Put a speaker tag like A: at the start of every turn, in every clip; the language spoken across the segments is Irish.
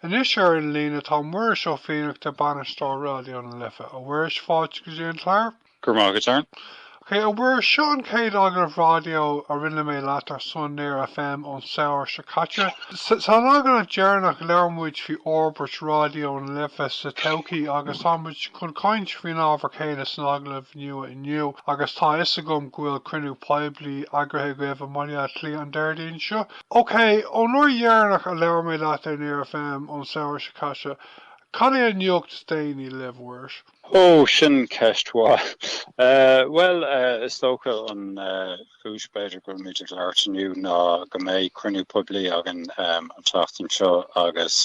A: Anois ar an líne tá Muiris Ó Fiannachta, Bainisteoir Raidió na Life. A Mhuiris, fáilte go dtí an clár. Go raibh maith agat, Aaron.
B: Ok, a
A: Mhuiris, seo an chéad agallamh raidió a rinne mé leat ar son Near FM ón samhradh seo caite. San agallamh deireanach labhair muid faoi fhorbairt Raidió na Life sa todhchaí agus tá muid chun caint faoin ábhar céanna san agallamh nua inniu agus tá a fhios agam go bhfuil cruinniú poiblí eagraithe agaibh i mBaile Átha Cliath an Déardaoin seo OK, ón uair dheireanach a labhair mé leat ar Near FM, ón samhradh seo caite, cad é an nuacht is déanaí libh, Mhuiris? Ó, sin
B: ceist mhaith. Bhuel, is dócha an chúis b'fhéidir go bhfuilimid ag labhairt inniu ná go mbeidh cruinniú poiblí againn an tseachtain seo agus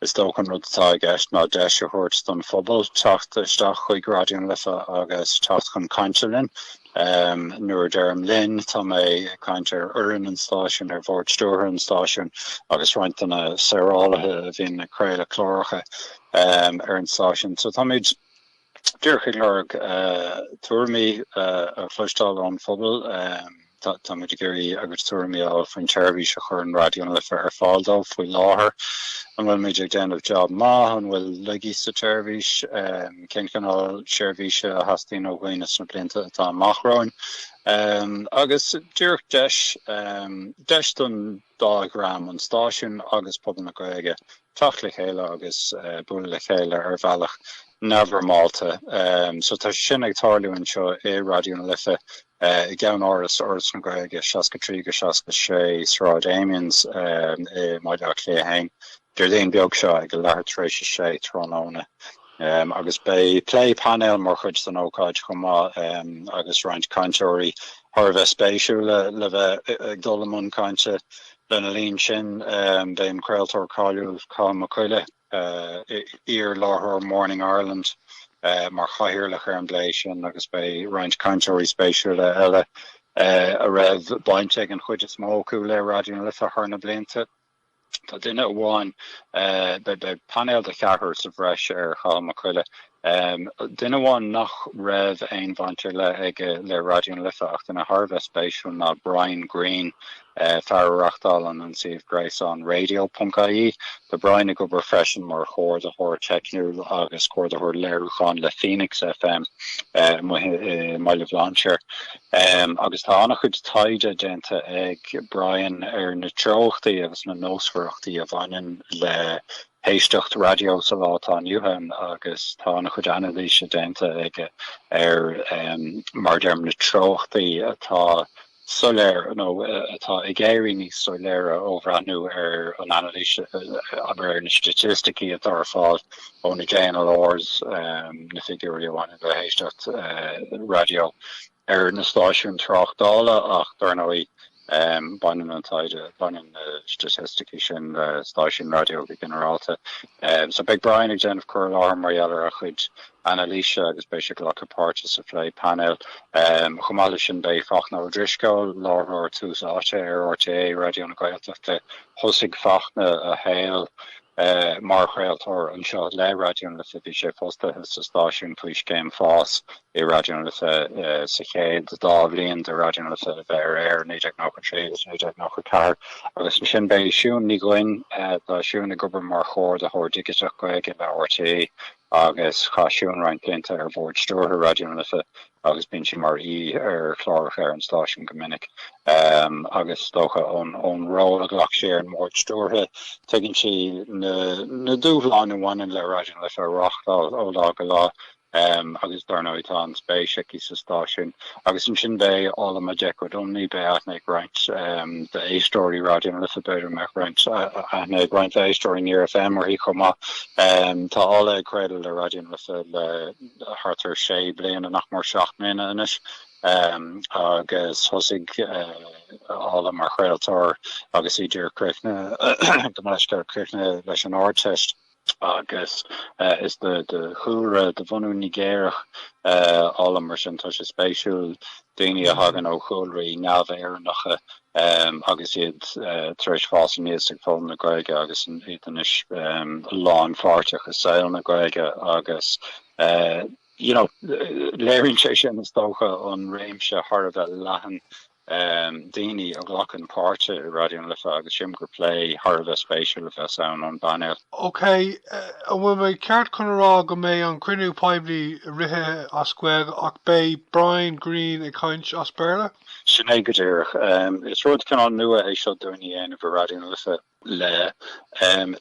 B: is dócha an rud atá i gceist ná deis a thabhairt don phobal teacht isteach chuig Raidió na Life agus teacht chun cainte linn. Nuair a deirim 'linn' tá mé ag caint ar fhoireann an stáisiúin, ar bhord stiúrtha an stáisiúin agus roinnt de na saorálaithe a bhíonn ag craoladh cláracha ar an stáisiún. So táimid díreach ag lorg tuairimí a chloisteáil ón phobal. Táimid ag iarraidh a gcuid tuairimí a fháil faoin tseirbhís a chuireann Raidió na Life ar fáil dóibh faoi láthair. An bhfuil muid ag déanamh job maith? An bhfuil laigí sa tseirbhís? Cén cineál seirbhíse a theastaíonn ó dhaoine sna blianta atá amach romhainn? Agus díreach deis, deis don dá dhream, an stáisiún agus pobal na Gaeilge, teacht le chéile agus bualadh le chéile ar bhealach neamhfhoirmeálta. So tá sin ag tarlú anseo i Raidió na Life i gceannáras Fhoras na Gaeilge, 63 go 66 Sráid Amiens i mBaile Átha Cliath 1, Déardaoin beag seo ag a leathuair tar éis a sé tráthnóna agus beidh plé painéil mar chuid san ócáid chomh maith agus roinnt cainteoirí thar a bheith spéisiúla le bheith ag dul i mbun cainte. Lena linn sin, beidh an craoltóir cáiliúil Cathal Mac Coille, iar-láithreoir Morning Ireland, mar chathaoirleach ar an bplé sin agus beidh roinnt cainteoirí spéisiúla eile a raibh baint ag an chuid is mó acu le Raidió na Life thar na blianta. Tá duine amháin, beidh painéal de cheathrar sa bhreis ar Chathal Mac Coille Um, duine amháin nach raibh aon bhaint ar leith aige le Raidió na Life ach duine thar a bheith spéisiúil ná Brian Greene, eh, fear a reáchtálann an suíomh gréasáin radio.ie. Tá Brian ag obair freisin mar chomhordaitheoir teicniúil agus comhordaitheoir léiriúcháin le Phoenix FM eh, amuigh i i mBaile Bhlainséir. Em, agus tá an-chuid taighde déanta ag Brian ar na treochtaí agus na nósmhaireachtaí a bhaineann le héisteacht raidió sa lá atá inniu ann agus tá an-chuid anailíse déanta aige ar, mar a deirim, na treochtaí atá soiléir nó atá ag éirí níos soiléire ó bhreathnú ar an anailís abair ar na staitisticí atá ar fáil ó na JNLRs, na figiúirí a bhaineann le héisteacht raidió. ar na stáisiúin tráchtála ach dar ndóigh baineann an taighde, baineann na staitisticí sin le stáisiúin raidió go ginearálta. So beidh Brian ag déanamh cur i láthair mar gheall ar a chuid anailíse agus beidh sé ag glacadh páirte sa phlé painéil. Chomh maith leis sin beidh Fachtna Ó Drisceoil, láithreoir Tús Áite ar RTÉ Raidió na Gaeltachta. Thosaigh Fachtna a shaol mar chraoltóir anseo le Raidió na Life, bhí sé fostaithe sa stáisiún faoi scéim fás. i Raidió na Life sa chéad dá bhliain de Raidió na Life a bheith ar aer, 1993 agus 1994, agus ansin beidh Siún Ní Dhuinn, tá Siún ag obair mar Chomhordaitheoir Digiteach Gaeilge le RTÉ agus chaith Siún roinnt blianta ar Bhord Stiúrtha Raidió na Life agus bíonn sí mar aoi ar chláracha ar an stáisiún go minic agus is dócha ón ról a ghlac sí ar an mBord Stiúrtha, tuigeann sí na dúshláin a bhaineann le Raidió na Life a reáchtáil ó lá go lá. Umm, agus dar ndóigh tá an-spéis aici sa stáisiún. Agus ansin beidh Ola Majekodunmi beidh aithne ag roinnt d'éisteoirí Raidió na Life b'fhéidir go mbeadh roinnt aithne ag roinnt d'éisteoirí Near FM uirthi chomh maith. Tá Ola ag craoladh le Raidió na Life le thart ar sé bliana, nach mór seacht mbliana anois, agus thosaigh Ola mar chraoltóir agus í díreach críochnaithe, gabh mo leithscéal, críochnaithe leis an Ardteist. agus is de chúlra, de bhunú Nigéireach Ola, mar sin tá sé spéisiúil daoine a thagann ó chúlraí neamh-Éireannacha agus iad tar éis fás aníos ag foghlaim na Gaeilge agus iad anois lánpháirteach i saol na Gaeilge agus you know léiríonn sé sin is dócha an réimse thar a bheith leathan daoine a ghlacann páirt i Raidió na Life agus sílim gur plé thar a bheith spéisiúil a bheas ann ón bpainéal. OK,
A: an bhfuil mé ceart chun a rá go mbeidh an cruinniú poiblí rite as Gaeilge ach beidh Brian Greene ag caint as Béarla? Sin é go díreach.
B: Is rud cineál nua é seo dúinn a dhéanamh i Raidió na Life. le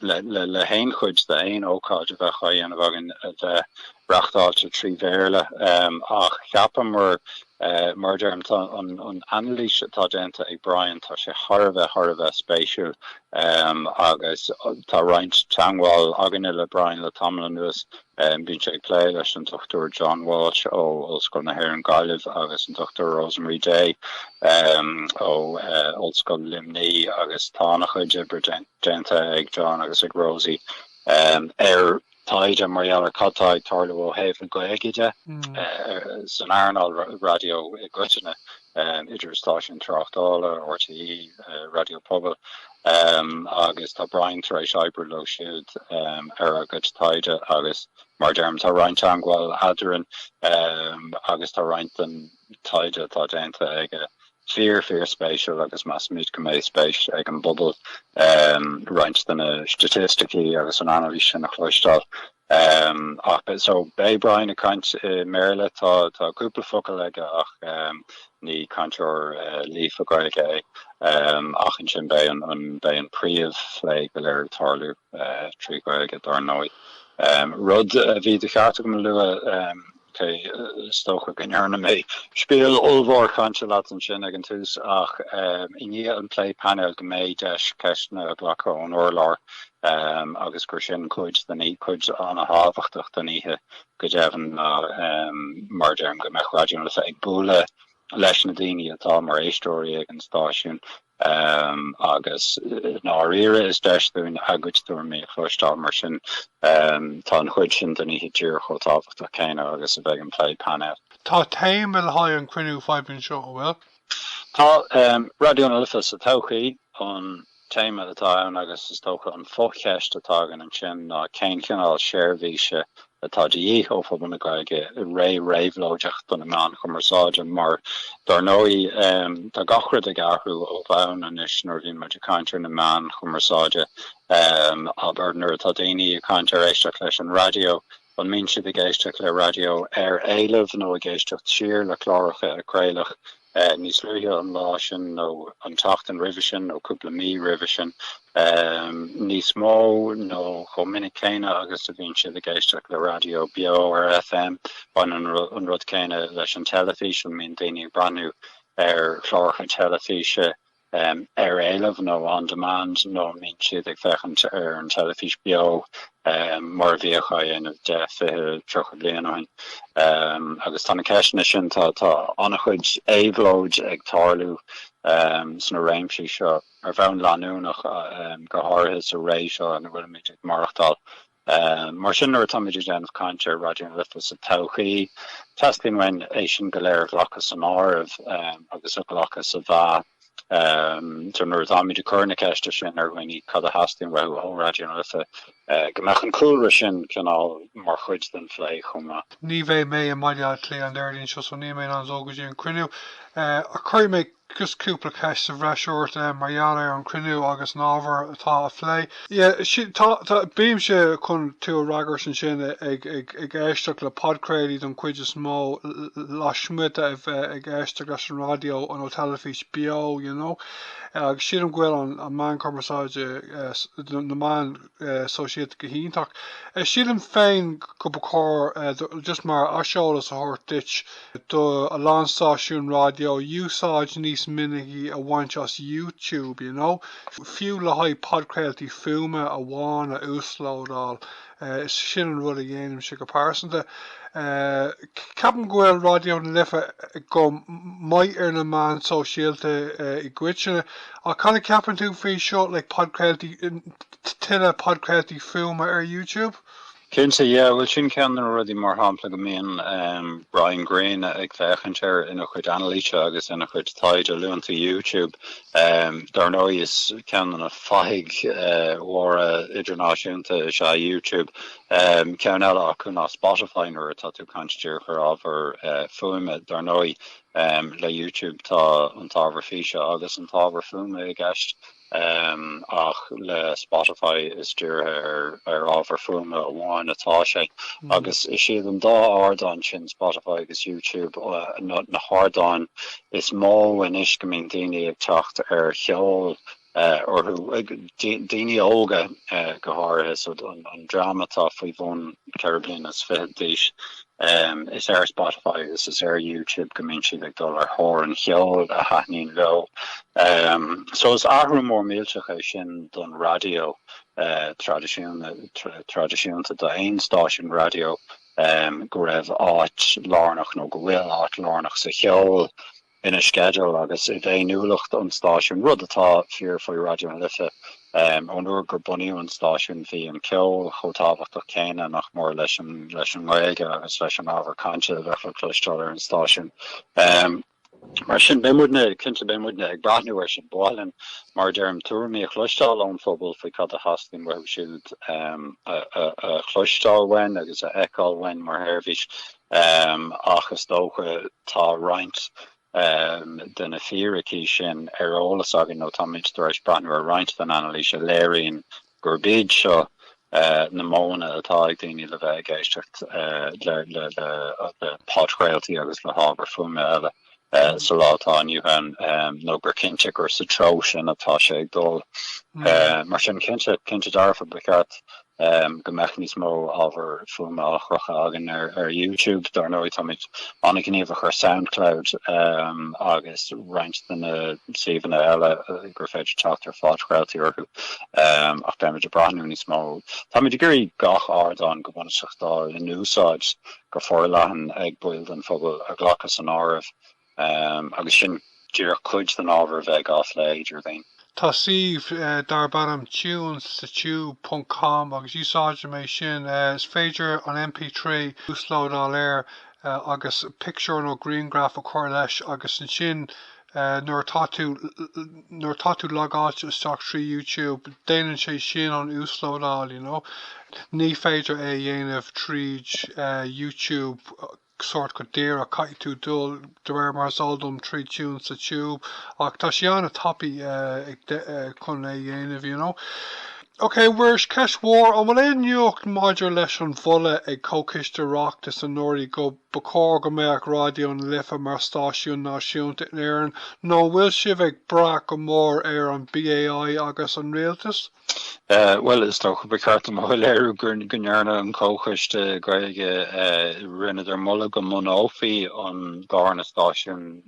B: le haon chuid d'aon ócáid a bheadh á dhéanamh againn a bheith reáchtáilte trí Bhéarla ach cheapamar, mar a deirim, tá an anailís atá déanta ag Brian, tá sé thar a bheith, thar a bheith spéisiúil agus tá roinnt teagmháil againne le Brian le tamall anuas. Bíonn sé ag plé leis an Dr John Walsh ó Ollscoil na hÉireann Gaillimh agus an Dr Rosemary Day ó Ollscoil Luimní agus tá ana chuid oibre déanta ag John agus ag Rosie ar thaighde mar gheall ar cad tá ag tarlú ó thaobh na Gaeilge de san earnáil raidió i gcoitinne. idir stáisiúin tráchtála RTÉ, Raidió Pobail agus tá Brian tar éis oibriú leo siúd ar a gcuid taighde agus mar a deirim tá roinnt teagmháil eadrainn agus tá roinnt den taighde atá déanta aige fíor fíor spéisiúil agus measaimid go mbeidh spéis ag an bpobal roinnt de na staitisticí agus an anailís sin a chloisteáil. Um, ach, so, beidh Brian ag caint i mBéarla, tá, tá cúpla focal aige ach um, ní cainteoir uh, líofa Gaeilge é. Um, ach ansin beidh an, an, beidh an príomh phlé go léir ag tarlú uh, trí Gaeilge dar ndóigh. Um, rud a bhí de cheart agam a lua um, Is dócha go ndearna mé spiel ollmhór cainte leat ansin ag an tús ach i ndiaidh an plé painéil go mbeidh deis ceisteanna a ghlacadh ón urlár agus gur sin cuid den oíche, cuid an-tábhachtach den oíche go deimhin ná mar a deirim go mbeadh Raidió na Life ag bualadh leis na daoine atá mar éisteoirí ag an stáisiún. Um, agus ndáiríre, is deis dúinn a gcuid tuairimí a chloisteáil, mar sin um, tá an chuid sin den oíche díreach chomh tábhachtach céanna agus a bheidh an plé painéil. Tá téama
A: le haghaidh an chruinniú poiblí seo, an bhfuil?
B: Tá. Um, Raidió na Life sa Todhchaí an téama atá ann agus is dócha an fho-cheist atá againn ansin ná cén cineál seirbhíse atá de dhíth ó phobal na Gaeilge i ré réabhlóideach do na meáin chumarsáide mar, dar ndóigh, tá gach rud ag athrú ó bhonn anois nuair a bhíonn muid ag caint ar na meáin chumarsáide, abair, nuair atá daoine ag caint ar éisteacht leis an raidió, an mbíonn siad ag éisteacht le raidió ar éileamh nó ag éisteacht siar le cláracha a craoladh níos luaithe an lá sin nó an tseachtain roimhe sin nó cúpla mí roimhe sin, níos mó nó chomh minic céanna agus a bhíonn siad ag éisteacht le raidió beo ar FM. Baineann an rud céanna leis an teilifís, an mbíonn daoine ag breathnú ar chláracha teilifíse ar éileamh nó on demand nó an mbíonn siad ag féachaint ar an teilifís beo mar a bhíodh á dhéanamh deich, fiche, tríocha bliain ó shin? Agus tá na ceisteanna sin, tá, tá an-chuid éabhlóid ag tarlú sna réimsí seo ar bhonn leanúnach, go háirithe sa ré seo ina bhfuilimid ag maireachtáil. Mar sin nuair atáimid ag déanamh cainte ar Raidió na Life sa todhchaí, teastaíonn uainn é sin go léir a ghlacadh san áireamh agus a ghlacadh sa mheá. So nuair atáimid ag cur na ceiste sin ar dhaoine, cad a theastaíonn uathu ó Raidió na Life, go mbeadh an cúlra sin cineál mar chuid den phlé chomh maith. Ní bheidh mé i
A: mBaile Átha Cliath an Déardaoin seo so níl mé in ann dul go dtí an cruinniú ach cuirfidh mé just cúpla ceist sa bhreis ort mar gheall ar an chruinniú agus an ábhar atá a phlé. Bímse chun tú a fhreagairt ansin ag éisteacht le podchraoltaí don chuid is mó lasmuigh de a bheith ag éisteacht leis an raidió nó teilifís beo you know agus sílim go bhfuil an meán cumarsáide na meáin sóisialta go hiontach. Sílim féin go ba chóir just mar aiseolas a thabhairt duit do a lán stáisiúin ráidió úsáid níos minicí a bhaint as YouTube you know fiú le haghaidh podchraoltaí fuaime amháin a uaslódáil is sin an rud a dhéanaimse go pearsanta. Ceapaim go bhfuil Raidió na Life go maith ar na meáin sóisialta i gcoitinne Ach cad a cheapann tú faoi seo, like podchraoltaí, tuilleadh podchraoltaí fuaime ar YouTube? Cinnte,
B: yeah, bhuel sin ceann de na rudaí mar shampla go mbíonn Brian Greene ag féachaint air ina chuid anailíse agus ina chuid taighde, luann tú YouTube, dar ndóigh is ceann de na fathaigh mhóra idirnáisiúnta is ea YouTube, ceann eile acu ná Spotify nuair atá tú ag caint go díreach ar ábhar fuaime dar ndóigh. le YouTube tá an t-ábhar físe agus an t-ábhar fuaime i gceist ach le Spotify is dírithe ar ábhar fuaime amháin atá sé agus is iad an dá ardán sin, Spotify agus YouTube, na hardáin is mó anois go mbíonn daoine ag teacht ar cheol eh, orthu, ag dai- daoine óga eh, go háirithe. So d- an, an dream atá faoi bhun ceithre bliana is fiche d'aois, em, is ar Spotify agus is ar YouTube go mbíonn siad ag dul ar thóir an cheoil a thaitníonn leo. Em, so is athrú mór millteach é sin don raidió eh, traidisiúna, tra- traidisiúnta, d'aon stáisiún raidió em, go raibh áit lárnach nó go bhfuil áit lárnach ag ceol. ina sceideal agus i bhféiniúlacht an stáisiúin, rud atá fíor faoi Raidió na Life. Ón uair gur bunaíodh an stáisiún bhí an ceol chomh tábhachtach céanna, nach mór, leis an nGaeilge agus leis an ábhar cainte a bheadh le cloisteáil ar an stáisiún. Mar sin, beidh muidne, cinnte beidh muidne, ag breathnú air sin. Ba mhaith linn, mar a deirim, tuairimí a chloisteáil ón phobal faoi cad a theastaíonn uathu siúd a chloisteáil uainn agus a fheiceáil uainn mar sheirbhís. ach is dócha tá roinnt de na fíricí sin ar eolas againn nó táimid tar éis breathnú ar roinnt den anailís a léiríonn gurb iad seo na modhanna atá ag daoine le bheith ag éisteacht le podchraoltaí agus le hábhar fuaime eile. sa lá atá inniu ann nó gur cinnte gur sa treo sin atá sé ag dul. Mar sin, cinnte, cinnte dearfa ba cheart go mbeadh níos mó ábhar fuaime á chrochadh againn ar YouTube. Dar ndóigh táimid an-ghníomhach ar Soundcloud agus roinnt de na suíomhanna eile gur féidir teacht ar phodchraoltaí orthu ach beimid ag breathnú níos mó. Táimid ag iarraidh gach ardán go bunúsach atá in úsáid. go forleathan ag baill den phobal a ghlacadh san áireamh agus sin díreach cuid den ábhar a bheidh á phlé idir linn. Tá suíomh
A: darb ainm Tunes to Tube ponc com agus úsáidim é sin. Is féidir an MP3 a uaslódáil air agus pictiúr nó grianghraf a chur leis agus ansin nuair tá tú logáilte isteach trí YouTube déanann sé sin an uaslódáil you know ní féidir é a dhéanamh tríd YouTube sórt go díreach caithfidh tú dul de réir mar is eol dom trí Tunes to Tube ach tá sé ana tapaidh chun é dhéanamh you know. Ok Muiris, ceist mhór, an bhfuil aon nuacht maidir leis an moladh ag Comhchoiste Oireachtais anuraidh go. Ba chóir go mbeadh Raidió na Life mar stáisiún náisiúnta in Éirinn, nó an bhfuil sibh ag brath go mór ar an BAI agus an Rialtas? Bhuel,
B: is dócha. Ba cheart dom a shoiléiriú go ndearna an Comhchoiste Gaeilge, rinneadar moladh go mbunófaí an darna stáisiún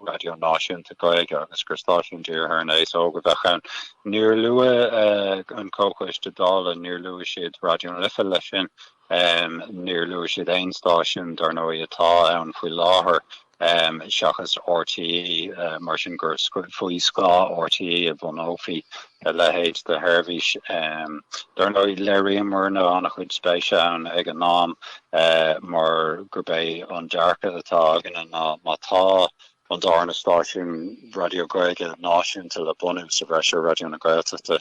B: raidió náisiúnta Gaeilge agus gur stáisiún dírithe ar an aos óg a bheadh ann. Níor luaigh an Comhchoiste Dála, níor luaigh siad Raidió na Life leis sin. Um níor luaigh siad aon stáisiún dar ndóigh atá ann faoi láthair um seachas RTÉ mar sin gur faoi scáth RTÉ a bhunófaí a leithéid de sheirbhís. Um dar ndóigh léiríomarna an-chuid spéise ann ag an am uh mar gurb é an dearcadh atá againne ná má tá an darna stáisiún raidió Gaeilge náisiúnta le bunú sa bhreis ar Raidió na Gaeltachta,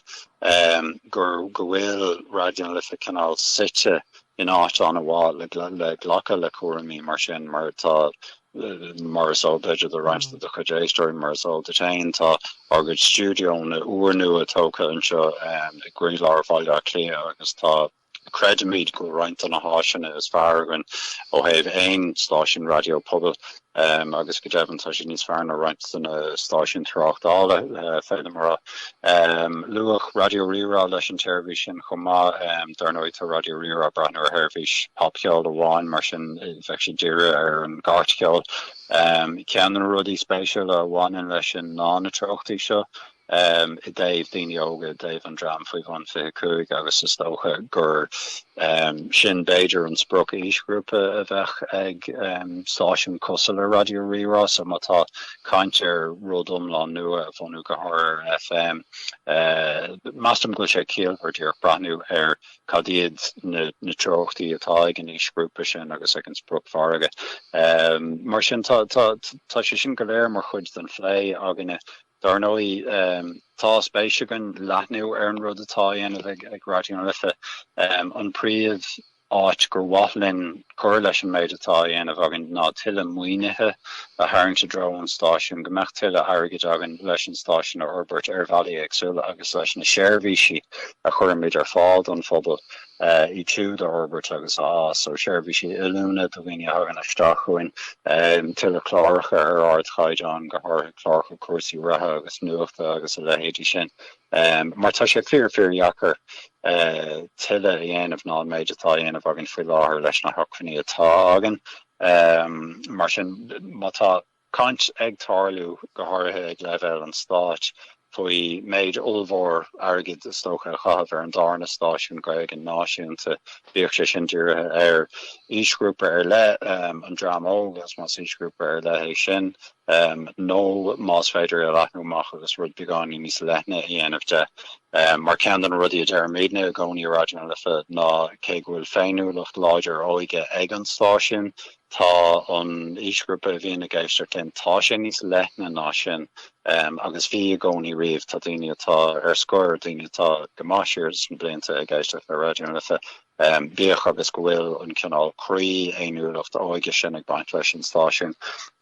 B: gur, go bhfuil Raidió na Life cineál suite in áit an-mhaith le glacadh le cúraimí mar sin mar atá, mar is eol b'fhéidir do roinnt de do chuid éisteoirí, mar is eol duit féin, tá ár gcuid stiúideonna úrnua tógtha anseo i gcroílár Bhaile Átha Cliath agus tá. Creidimid go bhfuil roinnt de na háiseanna is fearr againn ó thaobh aon stáisiún raidió pobail agus go deimhin tá siad níos fearr ná roinnt de na stáisiúin tráchtála, féadaim a rá. Luadh Raidió Rí-Rá leis an tseirbhís sin chomh maith. Dar ndóigh tá Raidió Rí-Rá ag breathnú ar sheirbhís popcheoil amháin, mar sin bheadh sé dírithe ar an gcairtcheol. Ceann de na rudaí spéisiúla a bhaineann leis sin ná na treochtaí seo. i dtaobh daoine óga, i dtaobh an dream faoi bhun 25 agus is dócha gur sin b'fhéidir an sprioc aoisghrúpa a bheadh ag stáisiún cosúil le Raidió Rí-Rá so má tá caint ar rud iomlán nua a bhunú go háirithe ar FM measaim go bhfuil sé ciallmhar díreach breathnú ar cad iad na treochtaí atá ag an aoisghrúpa sin agus ag an spriocmhargadh. Mar sin tá sé sin go léir mar chuid den phlé againne Dar ndóigh, tá spéis againn leathnú ar an rud atá á dhéanamh ag Raidió na Life. An príomh áit gur mhaith linn cur leis an méid atá á dhéanamh againn ná tuilleadh maoinithe a tharraingt i dtreo an stáisiúin, go mbeadh tuilleadh airgid againn leis an stáisiún a fhorbairt ar bhealaí éagsúla agus leis na seirbhísí a chuirimid ar fáil don phobal. iad siúd a fhorbairt agus a fhás, so seirbhísí oiliúna do dhaoine a thagann isteach chugainn, tuilleadh cláracha ar ardchaighdeán, go háirithe cláracha cúrsaí reatha agus nuachta agus a leithéidí sin, mar tá sé fíor, fíordheacair tuilleadh a dhéanamh ná an méid atá á dhéanamh againn faoi láthair leis na hacmhainní atá againn. Mar sin, má tá. Caint ag tarlú, go háirithe ag leibhéal an stáit, faoi mhéid ollmhór airgid is dócha a chaitheamh ar an darna stáisiún Gaeilge náisiúnta, bíodh sé sin dírithe ar aoisghrúpa ar leith, an dream óg, is más aoisghrúpa ar leith é sin, nó más féidir é a leathnú amach agus rud beagáinín níos leithne a dhéanamh de. Mar ceann de na rudaí a deirimidne i gcónaí i Raidió na Life ná cé go bhfuil féiniúlacht láidir óige ag an stáisiún, Tá an aoisghrúpa a bhíonn ag éisteacht linn, tá sé níos leithne ná sin agus bhí i gcónaí riamh. Tá daoine atá ar scor, daoine atá go maith siar sna blianta ag éisteacht le Raidió na Life, bíodh agus go bhfuil an cineál croí fhéiniúlacht óige sin ag baint leis an stáisiún.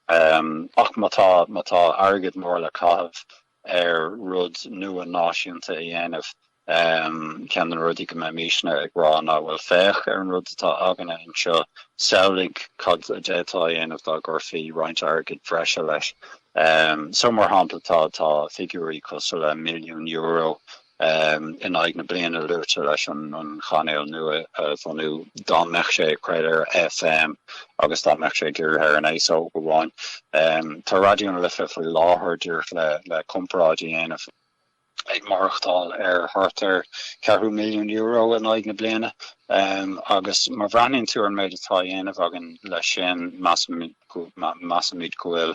B: Ach má tá, má tá airgead mór le caitheamh, ar rud nua náisiúnta a dhéanamh. Ceann de na rudaí go mbeimísne ag rá ná, bhuel, féach ar an rud atá againne anseo, samhlaigh cad a d'fhéadfá a dhéanamh dá gcuirfí roinnt airgid bhreise leis. So, mar shampla, tá figiúirí cosúil le milliún euro, in aghaidh na bliana luaite leis an chainéal nua a bhunú, dá mbeadh sé ag craoladh ar FM agus dá mbeadh sé dírithe ar an aos óg amháin. Tá Raidió na Life faoi láthair díreach le comparáid a dhéanamh, ag maireachtáil ar thart ar cheathrú milliún euro in aghaidh na bliana agus má bhreathnaíonn tú ar an méid atá á dhéanamh againn leis sin, measaim, measaimid go bhfuil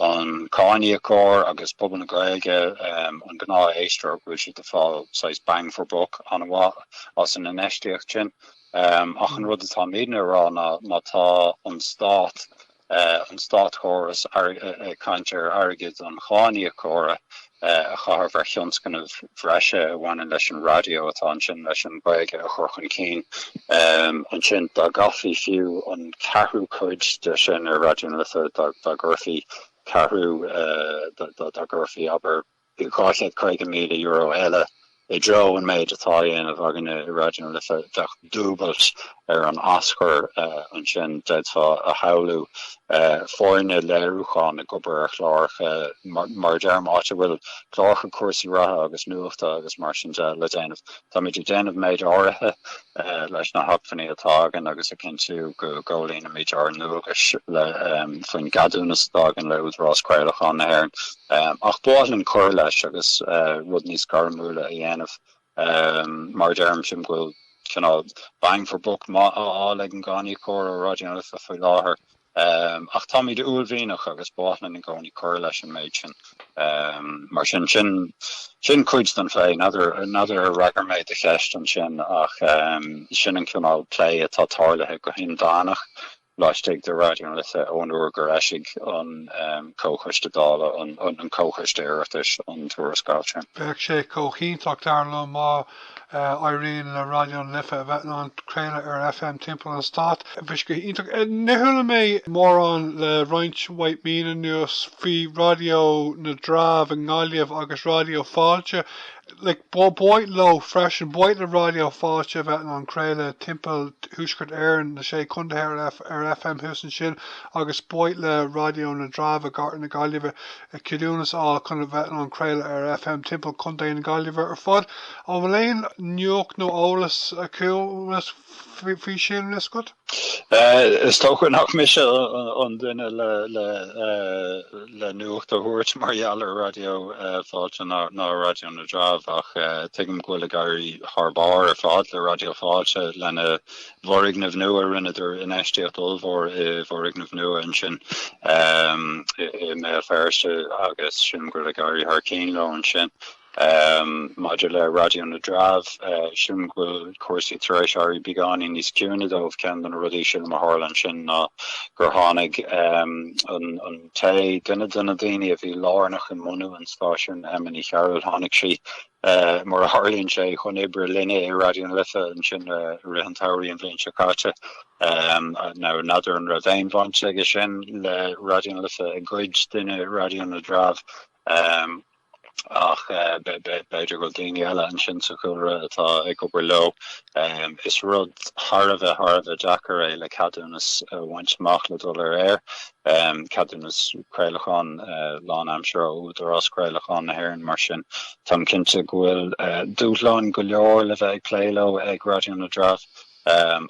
B: an cáiníocóir agus pobal na Gaeilge, an gnáthéisteoir, go bhfuil siad ag fáil saghas bang for buck an-mhaith as an infheistíocht sin. Ach an rud atá muidne a rá ná má tá an stát, an státchóras, ag caint ar airgead an cháiníocóra, a chaitheamh ar thionscnaimh bhreise a bhaineann leis an raidió atá ansin leis an Ghaeilge a chur chun cinn. Ansin, dá gcaithfí fiú an ceathrú cuid de sin ar Raidió na Life, dá gcuirfí ceathrú, dá gcuirfí, abair, €250,000 eile, I dtreo an méid atá á dhéanamh againne i Raidió na Life, bheadh dúbailt ar an aschur ansin, d'fhéadfá a shamhlú, foirne léiriúcháin ag obair ar chláracha, mar a deirim, áit a bhfuil gcláracha cúrsaí reatha agus nuachta agus mar sin de le déanamh. Táimid ag déanamh méid áirithe. leis na hacmhainní atá againn agus a chinntiú go gcomhlíonaimid ár ndualgais faoin gceadúnas atá againn le Údarás Craolacháin na hÉireann. Ach ba mhaith linn cur leis agus rud níos gairmiúla a dhéanamh mar a deirim sin, go bhfuil cineál bang for buck maith á fháil ag an gcáiníocóir ó Raidió na Life faoi láthair. Ach táimid uaillmhianach agus ba mhaith linne i gcónaí cur leis an méid sin. Mar sin, sin, sin cuid den phlé. N'fheadar ar fhreagair mé do cheist ansin ach sin an cineál plé atá tarlaithe go hinmheánach laistigh de Raidió na Life ón uair gur eisigh an Comhchoiste Dála, an Comhchoiste Oireachtais, an tuarascáil sin. Bheadh sé go
A: hiontach dar liom má Éiríonn le Raidió na Life a bheith in ann craoladh ar FM timpeall an stáit. Bheadh sé go hiontach. Níor chuala mé mórán le roinnt mhaith míonna anuas faoi Raidió na dTreabh i nGaillimh agus Raidió Fáilte. Like, ba mhaith leo freisin, ba mhaith le Raidió Fáilte a bheith in ann craoladh timpeall Thuaisceart Éireann, na Sé Contaethe ar FM thuas ansin agus ba mhaith le Raidió na dTreabh i gcathair na Gaillimhe. ceadúnas a fháil chun a bheith in ann craoladh ar FM timpeall Chontae na Gaillimhe ar fad. An bhfuil aon nuacht nó eolas acu faoi sin, an bhfuil a fhios agat? Is
B: dócha nach mise an duine le nuacht a thabhairt mar gheall ar Raidió Fáilte ná Raidió na dTreabh ach tuigim go bhfuil ag éirí thar barr ar fad le Raidió Fáilte lena bhfoirgneamh nua, rinneadar infheistíocht ollmhór i bhfoirgneamh nua ansin i mBéal Feirste agus sílim go bhfuil ag éirí thar cinn leo ansin. Maidir le Raidió na dTreabh, sílim go bhfuil cúrsaí tar éis éirí beagáinín níos ciúine dóibh. Ceann de na rudaí sílim a tharla ansin ná gur tháinig an té, duine de na daoine a bhí lárnach i mbunú an stáisiúin, Emma Ní Chearúil, tháinig sí mar a tharlaíonn sé chun oibre linne i Raidió na Life ansin i rith an tsamhraidh an bhliain seo caite nó n'fheadar an raibh aon bhaint aige sin le Raidió na Life ag goid duine Raidió na dTreabh ach b'fhéidir go bhfuil daoine eile ansin sa chúlra atá ag obair leo. Is rud thar a bheith thar a bheith deacair é le ceadúnas a bhaint amach le dul ar aer ceadúnas craolacháin lán-aimseartha ó Údarás Craolacháin na hÉireann. Mar sin, táim cinnte go bhfuil dúshlán go leor le bheith ag plé leo ag Raidió na dTreabh.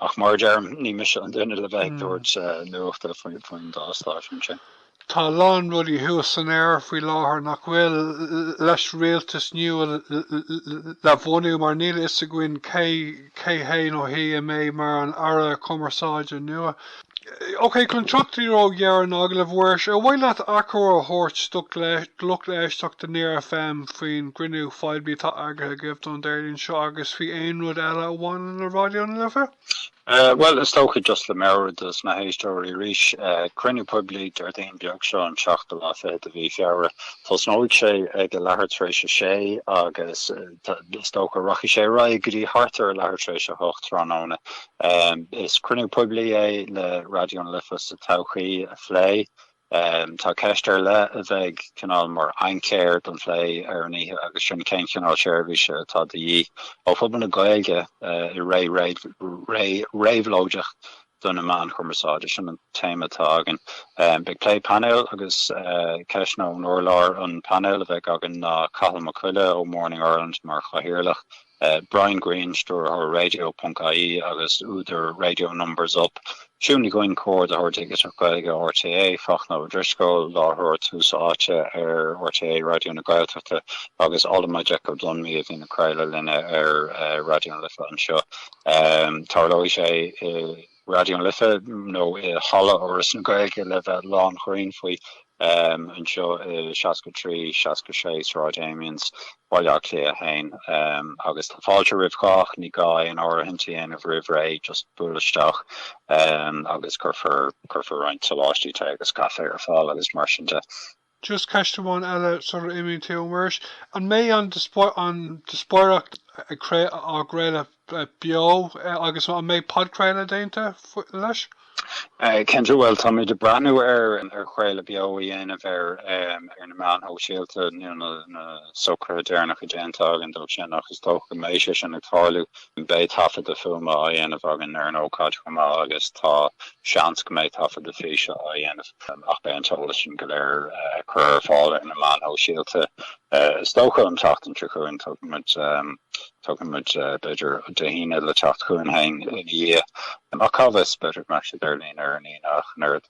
B: Ach mar a deirim, ní mise an duine le bheith ag tabhairt nuachta faoin dá stáisiún sin. Tá a lán
A: rudaí thuas san aer faoi láthair nach bhfuil leis rialtas nua le bhunú mar níl a fhios againn cé cé hé nó hí a mbeidh mar an Aire Cumarsáide nua? OK, chun teacht i dtreo dheireadh an agallaimh, Mhuiris, ar mhaith leat achoimre a thabhairt do lucht éisteachta Near FM faoin gcruinniú phoiblí atá eagraithe agaibh don Déardaoin seo agus faoi aon rud eile a bhaineann le Raidió na Life? Bhuel,
B: is dócha just le meabhrú dos na héisteoirí arís, cruinniú poiblí Déardaoin beag seo an seachtú lá fichead de mhí Feabhra. Tosnóidh sé ag a leathair tar éis a sé agus is dócha, rachaidh sé ar aghaidh go dtí thart ar a leathuair tar éis a hocht tráthnóna. Is cruinniú poiblí é le Raidió na Life sa todhchaí a phlé. Tá ceist ar leith a bheidh cineál mar aincéir don phlé ar an oíche agus sin cén cineál seirbhíse atá de dhíth ó phobal na Gaeilge i ré réabhlóideach do na meáin chumarsáide. Sin an téama atá againn. Beidh plé painéil agus ceisteanna ón urlár. An painéal a bheidh againn ná Cathal Mac Coille ó Morning Ireland mar cathaoirleach, Brian Greene, stiúrthóir Radio ponc IE agus údar Radio Numbers Up, Siún Ní Dhuinn, comhordaitheoir digiteach Gaeilge RTÉ, Fachtna Ó Drisceoil, láithreoir Tús Áite ar RTÉ Raidió na Gaeltachta agus Ola Majekodunmi a bhíonn ag craoladh linne ar Raidió na Life anseo. Tarlóidh sé i Raidió na Life nó i halla Fhoras na Gaeilge le bheith lán-chruinn faoi. Anseo i 63, 66 Sráid Amiens, Baile Átha Cliath 1. Agus tá fáilte roimh chách, ní gá aon áirithint a dhéanamh roimh ré, just buail isteach agus cuirfear cuirfear roinnt soláistí tae agus caife ar fáil agus mar sin de. Just ceist
A: amháin eile sular n-imíonn tú, a Mhuiris. An mbeidh an diospóireacht á craoladh beo agus an mbeidh podchraoladh déanta leis?
B: Cinnte. Bhuel, táimid ag breathnú ar chraoladh beo a dhéanamh ar na meáin shóisialta. Níl na socruithe deireanacha déanta againn dó sin ach is dócha go mbeidh sé sin ag tarlú. Beidh taifeadadh fuaime á dhéanamh againn ar an ócáid chomh maith agus tá seans go mbeidh taifeadadh físe á dhéanamh. ach beidh an t-eolas sin go léir curtha ar fáil ar na meáin shóisialta is dócha an tseachtain seo chugainn. Tugann muid tugann muid b'fhéidir Dé hAoine le teacht chugainn féin ina dhiaidh. Ach cá bhfios, b'fhéidir go mbeidh siad ar líne ar an Aoine ach an oiread.